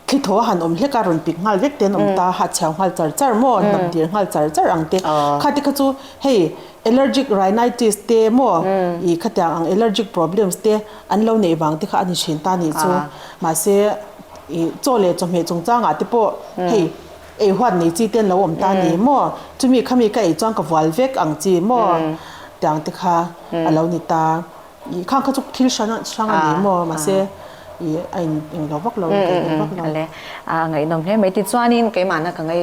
S1: Thli tho a han awm hlek a, rawn pik nghal vek te an awm ta, hah chhiau nghal char char maw, hnam tir nghal char char ang te. Kha te kha chu hei allergic rhinitis te maw ih khatiang ang allergic problems te an lo neih vang te kha a ni thin ta nih chu. Mahse ih chaw leh chawhmeh chung changah te pawh hei ei huat nei chi te an lo awm ta ni maw, chumi kha mi ka ei chuan ka vual vek ang chi maw tiang te kha a lo ni ta. I khang kha chu thil hrana hrang a ni maw mahse i a in eng lo vak lo, inkaih ve vak lo. A ngaihnawm hle mai tichuanin keimahna ka ngai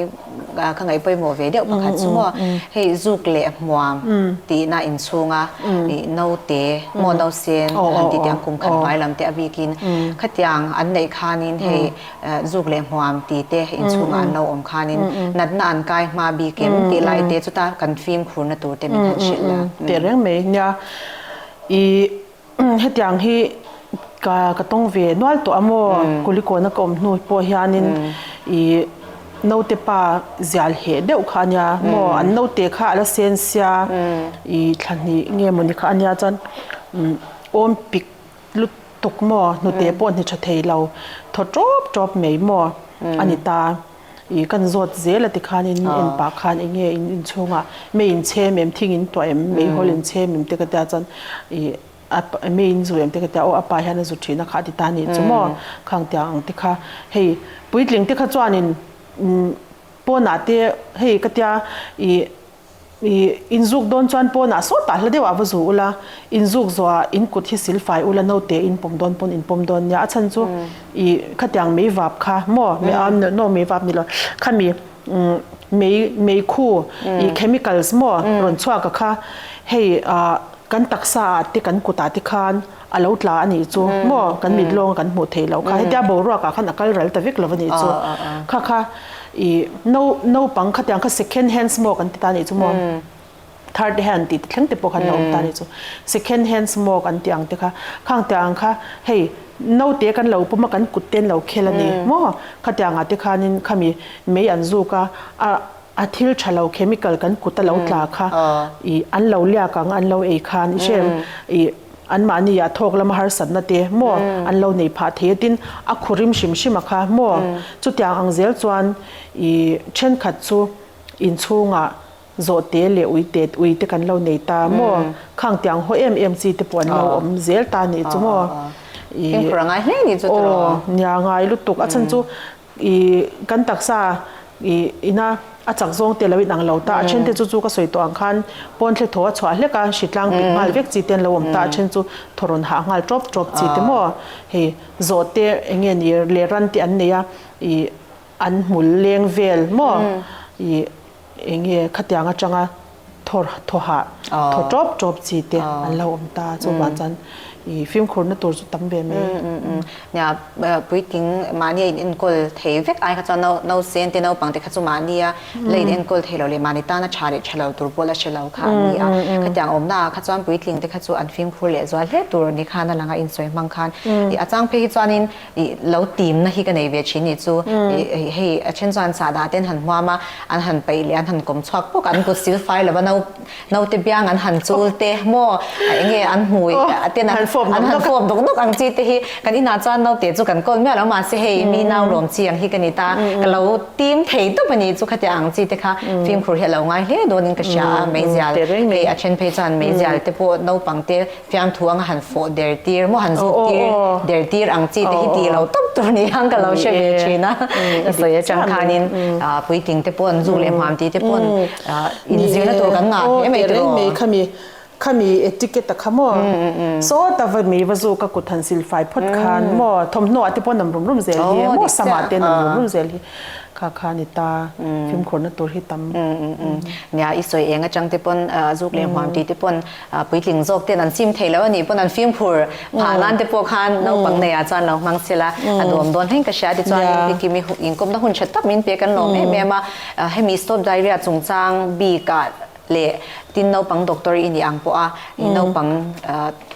S1: ka ngai pawimawh ve deuh pakhat chu maw hei zuk leh hmuam tihna inchhunga i naute maw nausen han titiang kumkhat hnuai lam te a bikin khatiang an neih khanin hei zuk leh hmuam ti te inchhungah an lo awm khanin natna an kai hma bik em tih lai te chuta kan fimkhurna tur te min han hrilh la. Teh reng mai nia, i hetiang hi ka ka tawng ve nual tawh a maw, Kulikawna ka awm hnu pawh hianin i naute pa zial heh deuh kha ania, maw an naute kha ala sensia i thla hnih nge mawni kha ania chuan awmpik, lutuk maw, hnute pawh hni tha thei lo, thaw tawp tawp mai maw a ni ta, ih kan zawt zel a ti khan in en pah khan eng nge in inchhung ah mei in chhem em, thing in tuah em, mei hawl in chhem em te ka tia chuan ih a mei in zu em te ka tia, oh a pa hian a zu thin a kha a ti ta ni chu maw kha ang tia ang te kha hei puitling te kha chuan in pawnah te hei ka tia ih Inzuk dawn chuan pawnah sawtah hla deuhah va zu ula, inzuk zawhah in kut hi sil fai ula, note in pawm dawn pawn in pawm dawn nia. A chhan chu i khatiang mei vap kha maw, no mei vap ni lo, khami mei mei khu i chemicals maw rawn chhuak a kha hei kan taksa ah te kan kut ah te khan, A lo tla a nih chu maw? Kan mit lawng a kan hmuh theih loh kha. Hetia boruak ah khan a kal ral ta vek lo a nih chu. Kha kha i no naupang kha tiang kha second hands maw kan ti ta a nih chu maw? Third hand tih ti thleng te pawh khan a awm ta a nih chu. Second hands maw kan ti ang te kha, khang te ang kha hei naute kan lo pawm a kan kut ten lo khel a ni maw? Kha te ang ah te khanin khami mei an zuk a, a a thil tha lo chemical kan kut a lo tla kha i an lo liak ang an lo ei khan i hriat reng i, Anmahni a thawk lama harsatna te maw an lo nei phah thei atin a khurim hrim hrim a kha maw? Chutiang ang zel chuan i thenkhat chu inchhungah zawh te leh ui te ui te kan lo nei ta maw? Khang ti ang haw em em chi te pawh an lo awm zel ta a nih chu maw? Aw nia ngai lutuk a chhan chu I kan taksa i ina a chak zawng te lo inang lo ta, a then te chu chu ka sawi tawh ang khan pawn hle tho a chhuah hlek a, hri tlang pik nghal vek chi te an lo awm ta, a then chu thaw rawn hah nghal tawp tawp chi te maw hei zawh te eng nge ni leh ran te an nei a i an hmul leng vel maw i. Eng nge khatiang atanga thawr thaw hah thaw tawp tawp chi te an lo awm ta a chuvah chuan i fimkhurna tur chu tam ve mai. Nia puiting mahni a in enkawl thei vek ai kha chuan no no sen te naupang te kha chu mahnia la in enkawl thei lo leh mahni tana tha leh tha lo tur pawh la hre lo kha an ni a. Khatiang awmna ah kha chuan puitling te kha chu an fimkhur leh zual hle tur ni khan a lang a insawi hmang khan. A chang phei hi chuanin. i lo tim na hi ka nei ve thin nih chu i hei a then chuan sahdah ten han hmuam a an han paih leh an han kawm chhuak pawk an kut sil fai lova no naute biang an han chul te maw a enge an hmu a ten an han fawp dawk dawk ang chi te hi kan inah chuan naute chu kan kawl miah lo mahse hei mi nau lawm chi ang hi ka ni ta ka lo tim thei dup a nih chu khatia ang chi te kha fimkhur hi a lo ngai hle dawn in ka hria a meizial hei a then phei chuan meizial te pawh naupang te. Fiang thu anga han fawh der tir maw, han zut tir der tir ang chi te hi tih lo tawp tur ni ang ka lo hre ve thin a. Ka sawi a chang khanin puitling te pawh an zuk leh hmam tih te pawh in zirna tur kan ngah hle mai tawh a. Khami khami etiquette a kha maw? Sawta va mei va zuk a kut han sil fai phawt khan maw? Thawmhnaw ah te pawh nam rum rum zel hi e maw sam ah te nam rum rum zel hi kha kha a ni ta. Fimkhur na tur hi tam. Nia i sawi eng a chang te pawn zuk leh hmam tih te pawn. Puitling zawk ten an chim theilo a nih pawn an fim phur phah nan te pawh khan naupang nei ah chuan lo hmang chilh a, a duam dawn hleng ka hria a tichuan in ti timi inkawmna hun tha tak min pe kan lawm em em a, hemi stop diarrhea chung chang bik ah leh tin naupang doctor i nih ang pawh a i naupang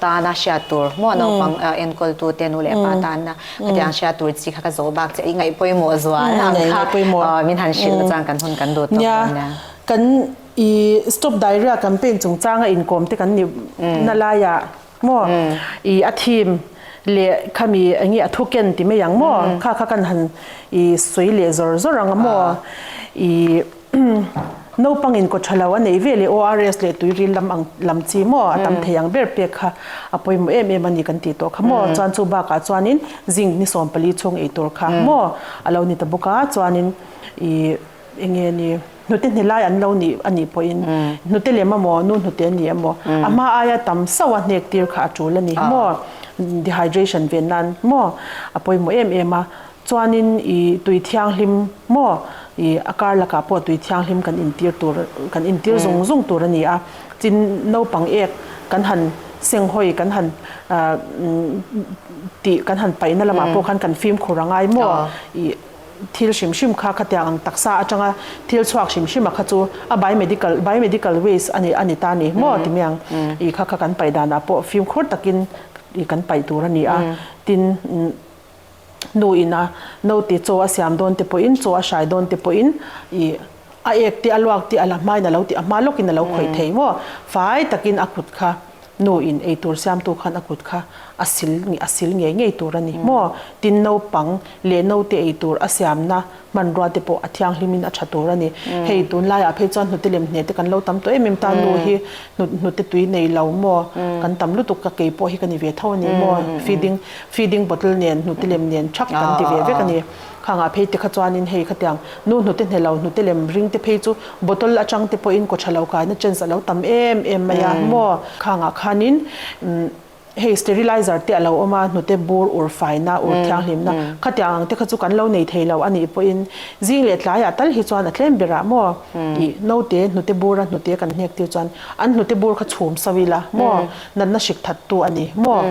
S1: tan a hriat tur hmaw a naupang enkawl tu te nu leh pa tan na khati ang hria tur chi kha ka zawh bak che i ngaih pawimawh zual ang kha min han hrilh a chuan kan hun kan duh tawh dawn nia. I Stop Diarrhea campaign chungchanga inkawm te kan ni na laia maw i a theme leh khami eng nge a thuken ti mai ang maw kha kha kan han i sawi leh zawr zawr ang a maw i naupangin kawthalo a nei vel e ORS leh tuiril lam ang lam chi maw a tam thei ang ber pek kha a pawimawh em em a ni kan tih tawh kha maw chuan chu bakah chuanin zinc ni sawmpali chhung ei tur kha maw a lo ni ta bawk a chuanin i Eng nge ni? Hnute hne lai an lo nih a nih pawhin hnute leh mamawh nu hnute a nih a maw? A hma aia tam sauh a hnek tir kha a tul a ni maw? Dehydration ve nan maw? A pawimawh em em a. Chuanin i tui thianghlim maw? I a kar lakah pawh tui thianghlim kan intir tur kan intir zung zung tur a ni a. Tin, naupang ek kan han senghawi kan han tih kan han paihna lamah pawh khan kan fimkhur a ngai maw? I. Thil hrim hrim kha khatiang ang taksa atanga thil chhuak hrim hrima kha chu a biomedical biomedical waste a ni a ni ta ni maw timi ang i kha kha kan paih danah pawh fimkhur takin i kan paih tur a ni a. Tin, nu ina naute chaw a siam dawnte pawhin chaw a hrai dawnte pawhin i. A ek tih a luak tih a la hmain a lo tih a hma lawkin a lo khawih thei maw? Fai takin a kut kha nu in ei tur siamtu khan a kut kha a sil nih a sil ngei ngei tur a ni maw? Tin naupang leh naute ei tur a siamna hmanrua te pawh a thianghlim in a tha tur a ni. Hei tunlai ah phei chuan hnute lem hnete kan lo tam tawh em em ta nu hi hnut hnute tui nei lo maw? Kan tam lutuk ka kei pawh hi ka ni ve tho a ni maw? Feeding feeding bottle nen hnute lem nen thak kan ti ve vek a ni. Kha ngah phei te kha chuanin hei khatiang nu hnute hnelo hnute lem ring te phei chu bottle atang te pawhin kawtha lo kaina chance a lo tam em em mai a maw. Kha ngah khanin hei sterilizer te a lo awm a hnute bur ur faina ur thianghlimna khatiang ang te kha chu kan lo nei thei lo a nih pawhin zing leh tlai ah tal hi chuan a tlem ber ah maw i naute hnute bur a hnute kan hnek tir chuan an hnute bur kha chhum sau ila maw natna hrik that tu a ni maw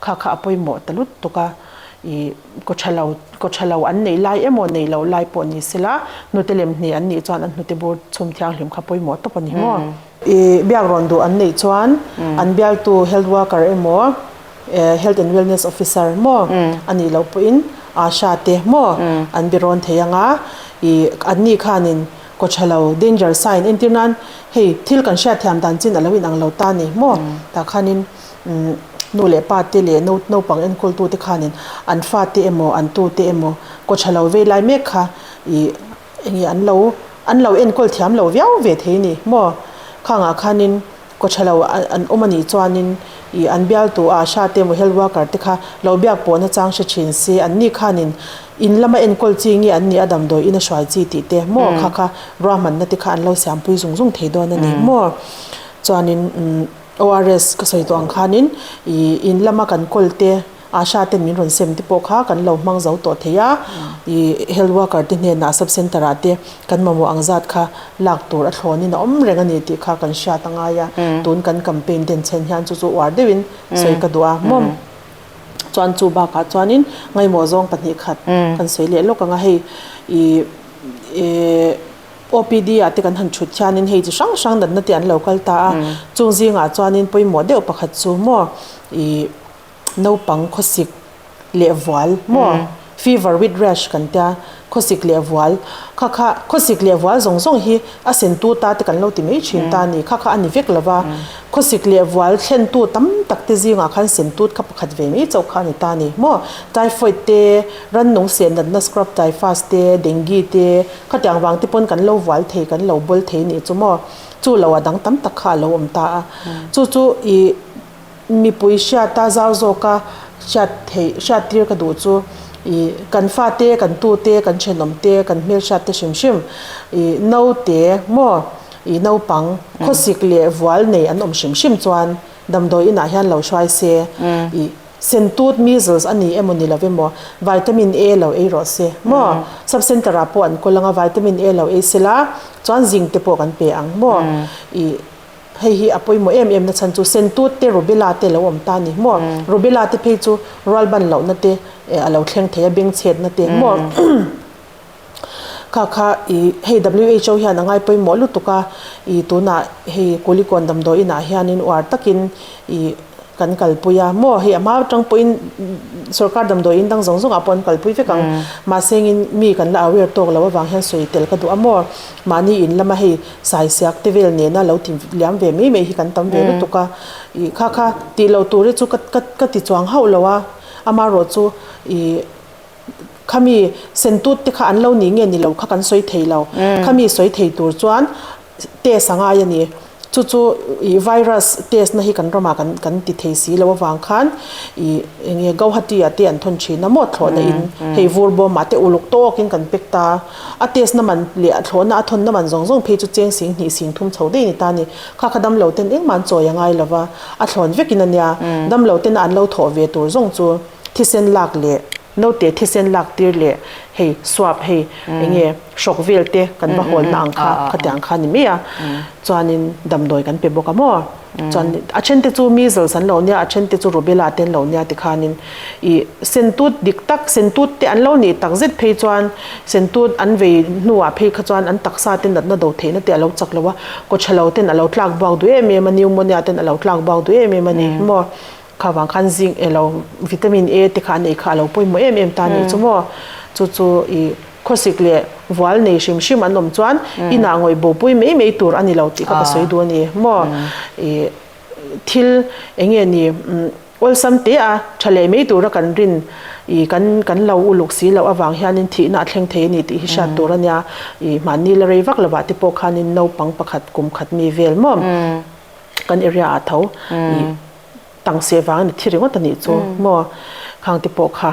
S1: kha kha a pawimawh ta lut tuk a i Kaw tha lo, kaw tha lo an neih lai emaw neih loh lai pawh ni sela, hnute lem hnih an nih chuan an hnute bur chhum thianghlim kha pawimawh tawp a ni maw? I biak rawn duh an neih chuan an bialtu health worker emaw health and wellness officer maw a nih loh pawhin Asha te maw an birawn thei ang a, i anni khanin kaw tha lo, danger sign, entir nan hei thil kan hriat thiam dan chin a lo inang lo ta ni maw? Tah khanin. nu leh pa te leh naupang enkawl-tu te khanin an fa te emaw, an tu te emaw kaw tha lo vei lai mek kha i eng nge an lo, an lo enkawl thiam lo viau ve thei ni maw? Khangah khanin kaw tha lo an awm a nih chuanin i an bialtu a hra te emaw health worker te kha lo biak pawh na chang hre thin si, an ni khanin in lama enkawl chi nge an nih a damdawi in a hruai chi tih te maw kha kha ruahmanna te kha an lo siampui zung zung thei dawn a ni maw? Chuanin umm. ORS ka sawi tawh ang khanin i in lama kan call te Asha ten min rawn sem te pawh kha kan lo hmang zo tawh theih a, i health worker te hnenah sub center ah te kan mamawh ang zat kha lak tur a thlawnin a awm reng a ni tih kha kan hriat a ngai a, tun kan campaign den chhen hian chu chu uar deuh in sawi ka duh a mawm chuan chu bakah chuanin ngaihmawh zawng pahnih khat kan sawi leh lawk ang a hei i e. OPD ah te kan han thut hianin hei chi hrang hrang natna te an lo kal ta a, chung zingah chuanin pawimawh deuh pakhat chu maw ih naupang khawsik leh vual maw fever with rash kan tia khawsik leh vual kha kha khawsik leh vual zawng zawng hi a sentu ta te kan lo ti mai thin ta a ni kha kha a ni vek lo va, khawsik leh vual thlentu tam tak te zingah khan sentut kha pakhat ve mai chauh kha a ni ta a ni maw typhoid te rannung seh natna scrub typhus te dengue te, Khatiang vang te pawn kan lo vual thei, kan lo bawlh thei nih chu maw? Chu lo a dang tam tak kha a lo awm ta a. Chu chu i mipui hriata zau zawka hriat theih, hriattir ka duh chu i kan fate, kan tute, kan thenawmte, kan hmelhriatte hrim hrim, i naute maw, i naupang khawsik leh vual nei an awm hrim hrim chuan damdawi inah hian lo hruai se i. Sentut, measles, a nih emaw ni lo ve maw? Vitamin A lo ei rawh se maw? Sub centre ah pawh an kawl anga vitamin A lo ei se la, chuan zinc te pawh kan pe ang maw? I hei hi a pawimawh em em na chhan chu sentut te rubella te lo awm ta ni maw? Rubella te phei chu rual ban lohna te a lo thleng thei a, bengchhetna te maw? Kha kha i hei who hian a ngai pawimawh lutuk a, i tunah hei Kulikawn damdawi inah hianin uar takin i kan kalpui a, maw hei a hma tang pawhin sorkar damdawi in dang zawng zawngah pawh an kalpui vek ang, mahse hengin mi kan la aware tawk loh avang hian sawi tel ka duh a maw, mahni in lama hei saisiak te vel nena lo ti liam ve mai mai hi kan tam ve lutuk a, i kha kha tih loh ture chu ka ka ka ti chuang hauh lo a, amaherawhchu i. Khami sentut te kha an lo nih nge ni lo kha kan sawi thei lo. Khami sawi thei tur chuan test a ngai a ni. Chu chu ih virus test na hi kan ramah kan kan ti thei si lo avang khan ih eng nge Gauhati-ah te an thawn thin a maw thlawh na in hei vur bawm ah te uluk tawk in kan pek ta. A test na man leh a thlawh na a thawn na man zawng zawng phei chu cheng sing hnih sing thum chho daih a ni ta ni. Kha kha damlo ten engmah an chawi a ngai lo va, a thlawn vek in a nia. Damlo tena an lo thawh ve tur zawng chu thisen lak leh. Note, Thisen laktir leh hei swap hei eng nge hrok vel te kan va hawl na ang kha kha te ang kha ni mai a, chuanin damdawi kan pe bawk a maw? Chuan a then te chu measles an lo nia a then te chu rubella te an lo nia ti khanin i sentut dik tak sentut te an lo nih tak zet phei chuan sentut an vei hnu ah phei kha chuan an taksa te natna do theihna te a lo chak lo a, kawchhalo ten a lo tlak buak duh em em a, pneumonia ten a lo tlak buak duh em em a ni maw? Kha vang khan zinc ilo vitamin A te kha a neih kha alo pawimawh em em ta a nih chu maw. Chu chu i khawsik leh vual nei hrim hrim an awm chuan inah ngawihbo pui mai mai tur a nilo tih kha ka sawi duh a ni maw. I thil eng nge ni awlsam te a tha leh mai tura kan rin i kan kan lo uluk si loh avang hianin thihna a thleng thei a ni tih hi hriat tur a nia. I hmanni la rei vak lovah te pawh khanin naupang pakhat kum khat mi vel maw. Kan area ah tho i tangsiah vangin a thi ringawt a nih chu maw? Khangte pawh kha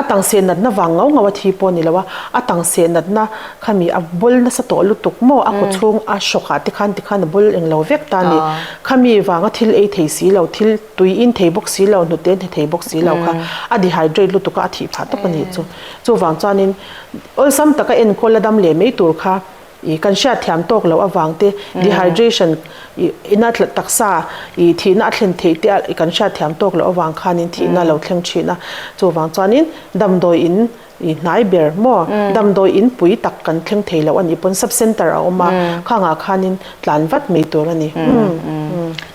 S1: a tangsiah natna vang ngau ngau a thi pawh a ni lo a, a tangsiah natna khami a bawl nasa tawh lutuk maw? A kawchhung a shock ah te khan ti khan a bawl eng lo vek ta a ni. Khami vanga thil ei thei si lo, thil tui in thei bawk si lo, hnute hne thei bawk si lo kha a dehydrate lutuk a, a thih phah tawp a nih chu. Chuvang chuanin awlsam taka enkawl a dam leh mai tur kha. I kan hriat thiam tawk loh avang te, dehydration, I na taksa I thihna a thlen theih te I kan hriat thiam tawk loh avang khan in thihna lo thleng thin a, chuvang chuan in damdawi in I hnai ber maw, damdawi in pui tak kan thleng thei loh a nih pawn, sub center a awm a, khang ah khan in tlan vat mai tur a ni.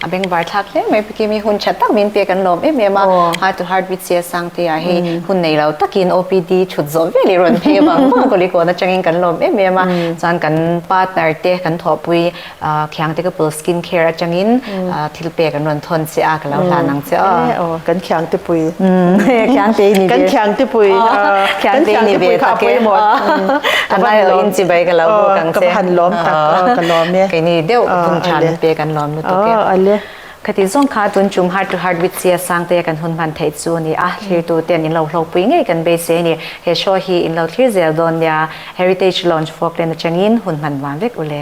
S1: A beng var thlak hle mai Pikim hi hun tha tak min pek an lawm em em a, Heart to Heart with Sia Sang te ah hi hun nei lo takin OPD thut zawh vel i rawn phei vang vang Kulikawn atangin kan lawm em em a, chuan kan partner te kan thawhpui Khiangte Kapul Skin Care atangin thil pek an rawn thawn che a, ka lo hlan ang che aw. Kan Khiangtepui Khiangte i ni ve, kan Khiangtepui kan Khiangtepui kha a pawimawh ka va han lawm tak, ka va han lawm tak, ka lawm e, hun tha min pek an lawm. nuam lutuk e. Aw ale. Ka tih zawng kha tun tum heart to heart with Sia Sang teia kan hun hman theih chu a ni a, thlirtu ten in lo hlawkpui ngei kan beisei a ni. He show hi in lo thlir zel dawn nia Heritage Lounge Falkland atangin hun hman vang vek ule.